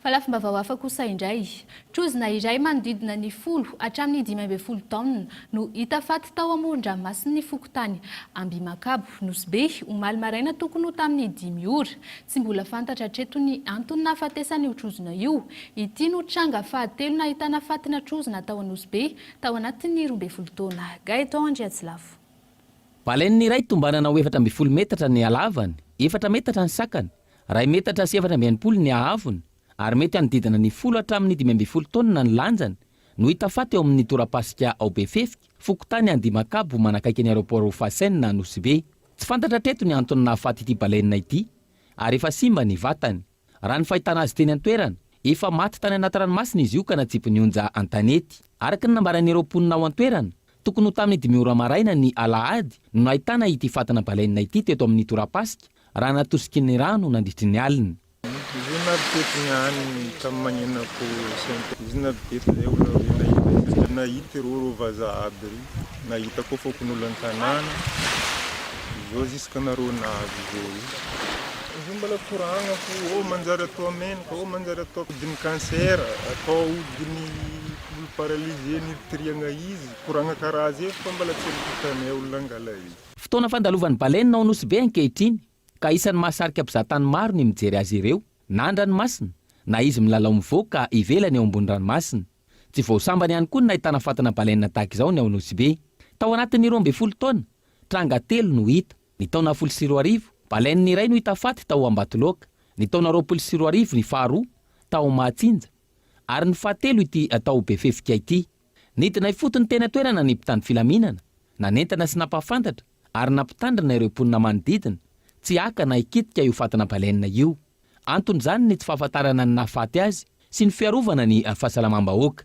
Fa lafim-baovao hafa kosa indray. Trozona iray manodidina ny folo hatramin'ny dimy ambin'ny folo taonina no hita faty tao amoron-dranomasin'ny fokontany Ambihimakabo, Nosy Be, omaly maraina tokony ho tamin'ny dimy ora. Tsy mbola fantatra hatreto ny antony nahafatesan'io trozona io. Ity no tranga fahatelo nahitana fatina trozona tao Anosy Be tao anatin'ny roa ambin'ny folo taona. Gaëtan Andriatsilavo. Baleine iray tombanana ho efatra ambin'ny folo metatra ny halavany, efatra metatra ny sakany, Iray metatra sy efatra amby enimpolo ny haavony ary mety hanodidina ny folo hatramin'ny dimy ambin'ny folo taonina ny lanjany no hita faty ao amin'ny torapasika ao Befefika, fokontany Andimakabo manakaiky ny aeroport Hofassin Anosibe. Tsy fantatra hatreto ny antony nahafaty ity baleine ity ary efa simba ny vatany. Raha ny fahitana azy teny an-toerana, efa maty tany anaty ranomasina izy io ka natsipin'ny onja an-tanety. Araka ny nambaran'ireo mponina ao an-toerana, tokony ho tamin'ny dimy ora maraina ny alahady no nahitana ity fatina baleine ity teto amin'ny torapasika Raha natosiky ny rano nandritry ny alina. Izy io navy teto niany tamin'ny mañenako Saint Paul. Izy navy teto zay olona roe nahita izy satria nahita ireo reo vazaha aby ry nahita koa fokonolona an-tanàna zao jusque nareo navy zao io. Izy io mbola koragna fo ô manjary atao menika ô manjary atao ahodin'ny cancer atao ahodin'ny olo paralysé nirtiriagna izy koragna karaha zay fa mbola tsy nitanay olona nangala izy. Fotoana fandalovan'ny Baleine ao Nosy Be ankehitriny ka isan'ny mahasarika mpizahatany maro ny mijery azy ireo na an-dranomasina na izy milalao mivoaka ivelany eo ambony ranomasina. Tsy vao sambany ihany koa ny nahitana fatana Baleine tahaka izao ny ao Nosy Be. Tao anatin'ny roa ambin'ny folo taona, tranga telo no hita. Ny taona folo sy roa arivo, Baleine iray no hita faty tao Ambatoloaka, ny taona roapolo sy roa arivo ny faharoa, tao Mahatsinja, ary ny fahatelo ity tao Befefika ity. Nidina ifotony teny an-toerana ny mpitandro filaminana, nanentana sy nampahafantatra ary nampitandrina ireo mponina manodidina tsy haka na hikitika io fatina baleine io. Anton'izany ny tsy fahafantarana ny nahafaty azy sy ny fiarovana ny fahasalamam-bahoaka.